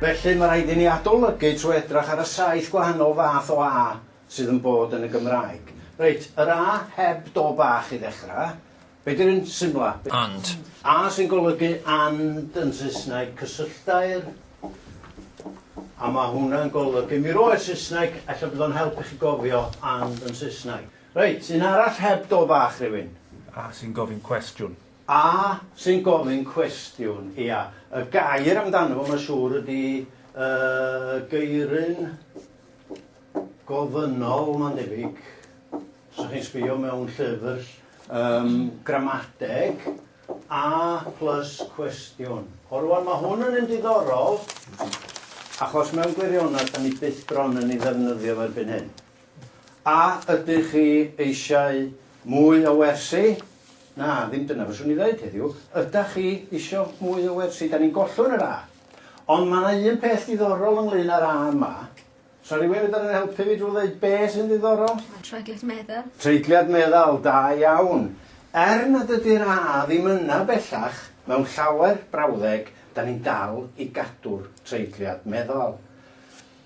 Felly, mae rhaid i ni adolygu trwy edrach ar y saith gwahanol fath o A sydd yn bod yn y Gymraeg. Reit, yr A heb do bach i ddechrau. Be di'r un symla? And. A sy'n golygu and yn Saesneg, cysylltair. A mae hwnna'n golygu, mi roedd Saesneg, ella bod o'n help i chi gofio and yn Saesneg. Reit, un arall heb do bach rhywun? A sy'n gofyn cwestiwn. A sy'n gofyn cwestiwn, ia. Y gair amdano fo mae'n siŵr ydi yy geiryn gofynnol mae'n debyg. Os ydych chi'n sbio mewn llyfr um, gramadeg, a plus cwestiwn. O rwan mae hwn yn un diddorol achos mewn gwirionedd da ni byth bron yn ei ddefnyddio erbyn hyn. A ydych chi eisiau mwy o wersi? Na, ddim dyna fyswn i ddeud heddiw. Ydach chi isio mwy o wersi? Da ni'n gollwng yr A. Ond mae yna un peth diddorol ynglyn â'r A yma. Sa rhywun yn fedru helpu fi drwy ddeud be sy'n ddiddorol? Mae'n treigliad meddal. Treigliad meddal, da iawn. Er nad ydy'r A ddim yna bellach, mewn llawer brawddeg, da ni'n dal i gadw'r treigliad meddal.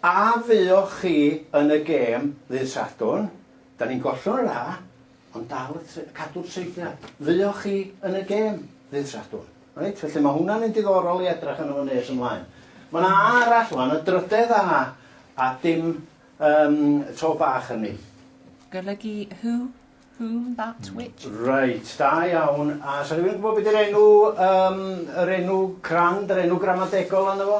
A fuoch chi yn y gêm ddydd Sadwrn? Da ni'n gollwng yr A, ond dal y tre- cadw'r treiglad. Fuoch chi yn y gêm ddydd Sadwrn? Reit, felly mae hwnna'n un diddorol i edrych arno fo nes ymlaen. Mae yna A arall wan, y drydedd A, a dim um, to bach yn ni. Golygu who, whom, that, which. Reit, da iawn. A sa rhywun yn gwybod beth yw'r enw, um, yr enw crand, yr enw gramadegol arno fo?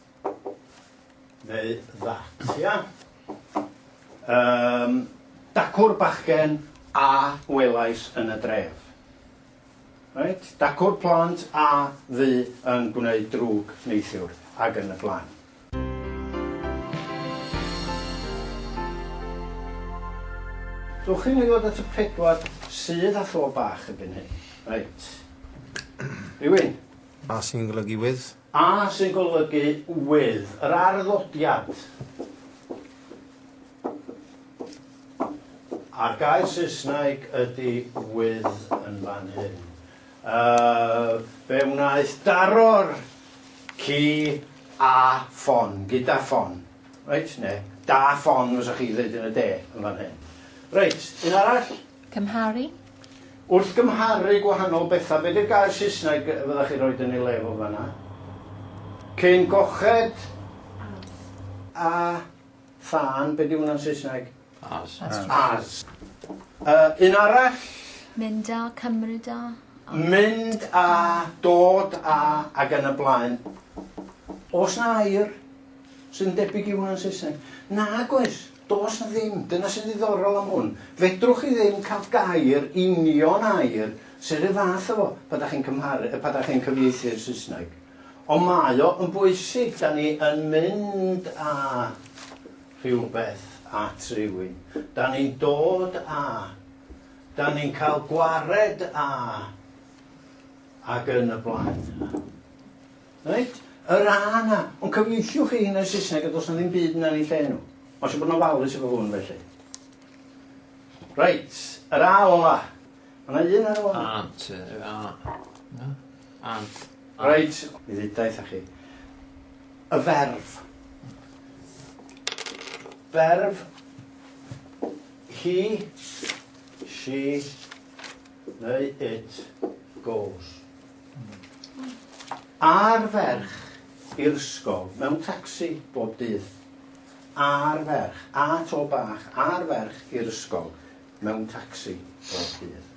Neu that, ia? Yym, dacw'r bachgen a welais yn y dref. Reit? Dacw'r plant a fu yn gwneud drwg neithiwr, ac yn y blaen. Dewch i ni ddod at y pedwar sydd â tho bach erbyn hyn. Reit. Rywun? A sy'n golygu with? A sy'n golygu wydd yr arddodiad. A'r gair Saesneg ydy wydd yn fan hyn. Uh, fe wnaeth daro'r ci a ffon, gyda ffon. Reit, ne, da ffon, fysa chi ddeud yn y de, yn fan hyn. Reit, un arall. Cymharu? Wrth gymharu gwahanol bethau, be 'di'r gair Saesneg fyddech chi'n rhoid yn ei le fo fan'na? Cyn goched a thân, be 'di hwnna'n Saesneg? As. As. Yy, un arall? Mynd a, cymryd a. Mynd a, dod a, ac yn y blaen. Oes 'na air sy'n debyg i hwnna'n Saesneg? Nag oes. Does 'na ddim. Dyna sy'n ddiddorol am hwn. Fedrwch chi ddim cael gair, union air, sydd 'r un fath â fo pan 'dach chi'n cymharu, yy pan 'dach chi'n cyfieithu i'r Saesneg. Ond mae o yn bwysig, 'dan ni yn mynd â rhywbeth at rywun, 'dan ni'n dod â, 'dan ni'n cael gwared â, ac yn y blaen. Reit? Yr A 'na. Ond cyfieithiwch chi hyn yn Saesneg a does 'na ddim byd yna yn ei lle nhw. Mae eisiau bod yn ofalus efo hwn felly. Reit, yr A ola. Mae yna un ar ôl. Ant, a. Na? Ant. Reit, mi ddudaeth â chi. Y ferf. Ferf. He, she, neu it, goes. A'r ferch i'r ysgol mewn tacsi bob dydd. A'r ferch, a to bach, a'r ferch i'r ysgol mewn tacsi bob dydd.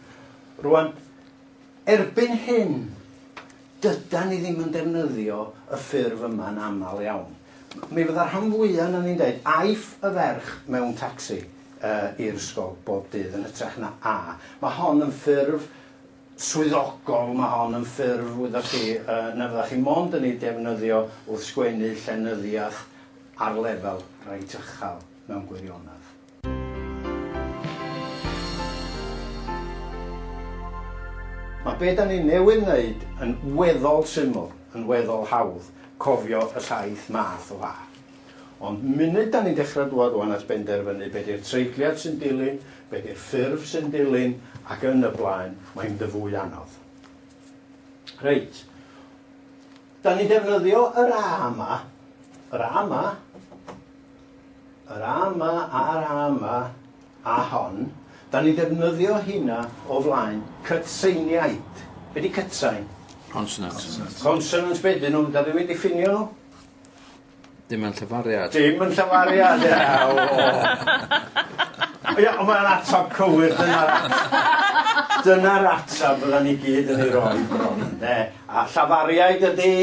Rwan, erbyn hyn, dyda ni ddim yn defnyddio y ffurf yma'n aml iawn. Mi fydda rhan fwya' na ni'n dweud aiff y ferch mewn tacsi uh, i'r ysgol bob dydd yn hytrach na a. Mae hon yn ffurf swyddogol, mae hon yn ffurf, wyddoch chi, na fyddech chi mond yn ei defnyddio wrth sgwennu llenyddiaeth ar lefel reit uchel, mewn gwirionedd. Mae be da ni newydd wneud yn weddol syml, yn weddol hawdd cofio y saith math o fath. Ond munud 'da ni'n dechrau dŵad ŵan at benderfynu be 'di'r treigliad sy'n dilyn, be 'di'r ffurf sy'n dilyn, ac yn y blaen, mae'n mynd yn fwy anodd. Reit. 'Da ni'n defnyddio yr A yma, yr A yma, yr A yma a'r A yma a hon. 'Da ni'n defnyddio hynna o flaen cytseiniaid. Be 'di cytsain? Consonants. Consonants be 'dyn nhw? 'Da ni'm yn diffinio nhw. Dim yn llafariad. Dim yn llafariad ie o. Ie on' mae'n atab cywir dyna'r dyna'r atab fyddan ni gyd yn ei roi bron ynde? A llafariaid ydi?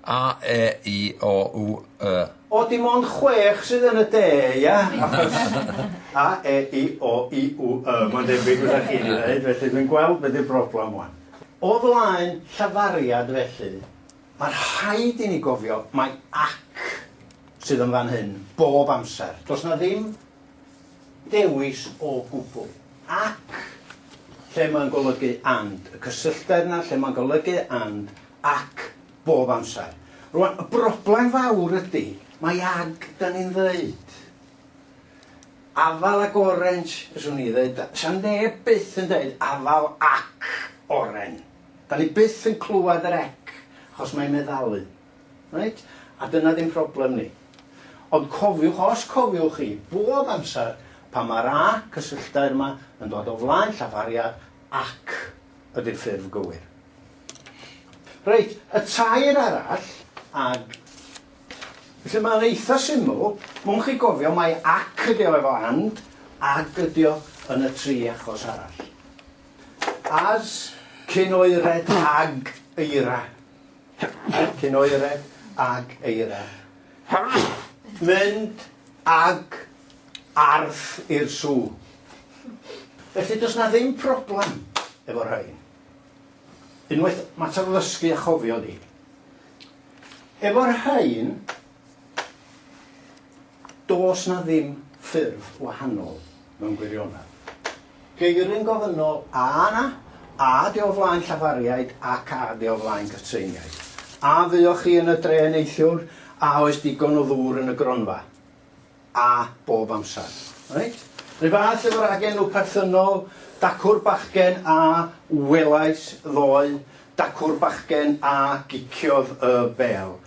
A e i o u y. O dim ond chwech sydd yn y de ia? Achos a e i o u u y mae'n debyg fydda chi wedi ddeud felly dwi'n gweld be' 'di'r broblam ŵan. O flaen llafariad felly Mae rhaid i ni gofio mai 'ac' sydd yn fan hyn bob amser. Does 'na ddim dewis o gwbl. 'Ac' lle mae'n golygu 'and', y cysylltedd 'na lle mae'n golygu 'and', 'ac' bob amser. Rŵan, y broblem fawr ydi, mai 'ag' 'dan ni'n ddeud. Afal ac oren, fyswn i'n ddeud, 'sa neb byth yn deud afal ac oren. Dan ni byth yn clywed yr ec achos mae'n meddalu. Reit? A dyna ddim problem ni. Ond cofiwch, os cofiwch chi, bob amser pan mae'r a cysylltair yma yn dod o flaen llafariad ac ydy'r ffurf gywir. Reit, y tair arall, ag felly mae'n eitha syml, mwyn chi gofio mae ac ydi o efo and, ag ydi o yn y tri achos arall. As cyn oered ag eira. Cyn oered ag eira. Mynd ag arth i'r sw. Felly does na ddim problem efo rhain. Unwaith, mater o ddysgu a chofio ydi. Efo'r rhain, Does 'na ddim ffurf wahanol mewn gwirionedd. Geir yn gofynnol, a na, a ydy o flaen llafariaid ac a ydy o flaen cytseiniaid? A fuoch chi yn y dre neithiwr? A oes digon o ddŵr yn y gronfa? A bob amser. Reit? Rhyw fath efo'r ragenw perthynol, dacw'r bachgen a welais ddoe, dacw'r bachgen a giciodd y bêl.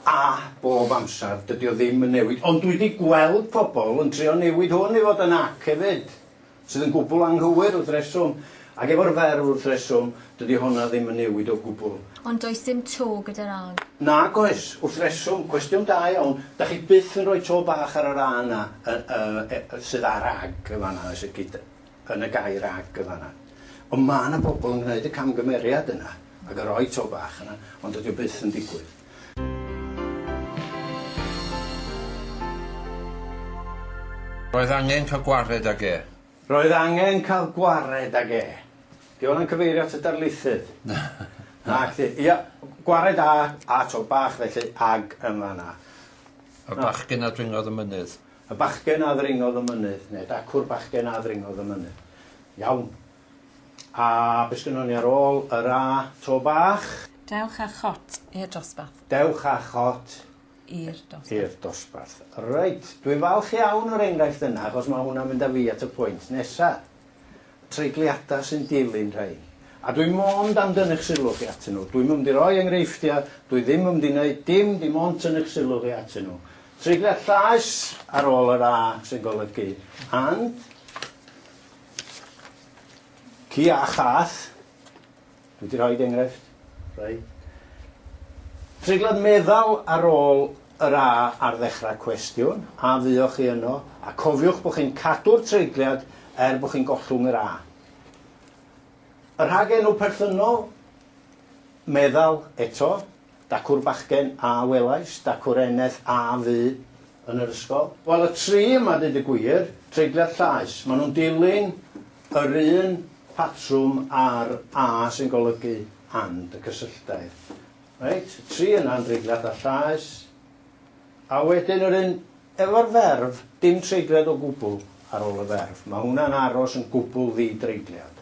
A bob amser, dydi o ddim yn newid. Ond dwi 'di gweld pobl yn trio newid hwn i fod yn ac hefyd, sydd yn gwbl anghywir wrth reswm. Ac efo'r fer wrth reswm, dydi honna ddim yn newid o gwbl. Ond does dim to gyda'r ag. Nag oes, wrth reswm. Cwestiwn da iawn. Dach chi byth yn rhoi to bach ar yr a yna, y, y, e, sydd ar ag yn fan'na, oes? Gyda. yn y gair ag yn fan'na. Ond ma' 'na bobl yn gneud y camgymeriad yna ag yn rhoi to bach yna, ond dydi o byth yn digwydd. Roedd angen cael gwared ag e. Roedd angen cael gwared ag e. 'Di hwnna'n cyfeirio at y darlithydd? Nacdi. Ia, gwared â, â to bach felly, ag yn fan'na. A'r bachgyn a dringodd y mynydd. Y bachgen a ddringodd y mynydd, neu dacw'r bachgen a ddringodd y mynydd. Iawn. A be sgynnon ni ar ôl yr a? To bach? Dewch â chot i'r dosbarth. Dewch â chot i'r dosbarth. I'r dosbarth. Reit, dwi'n falch iawn o'r enghraifft yna, achos mae hwnna'n mynd â fi at y pwynt nesa. treigliadau sy'n dilyn rhai, a dwi mond am dynnu'ch sylw chi atyn nhw. Dwi'm yn mynd i roi enghreifftiau, dwi ddim yn mynd i wneud dim, dim ond tynnu'ch sylw chi atyn nhw. Treigliad llaes ar ôl yr A sy'n golygu and, ci a chath, Dwi wedi rhoid enghraifft, reit. Treiglad meddal ar ôl yr A ar ddechrau cwestiwn, a fuoch chi yno, a cofiwch bod chi'n cadw'r treigliad er bod chi'n gollwng yr A. Y rhagenw perthynol, meddal, eto, Dacw'r bachgen, a welais, dacw'r eneth, a fu, yn yr ysgol. Wel, y tri yma, deud y gwir, treigliad llaes, maen nhw'n dilyn yr un patrwm a'r a sy'n golygu and, y cysylltair. Reit, y tri yna yn dreigliad a llaes, a wedyn yr un efo'r ferf, dim treigliad o gwbl ar ôl y ferf. Mae hwnna'n aros yn gwbl ddi-dreigliad.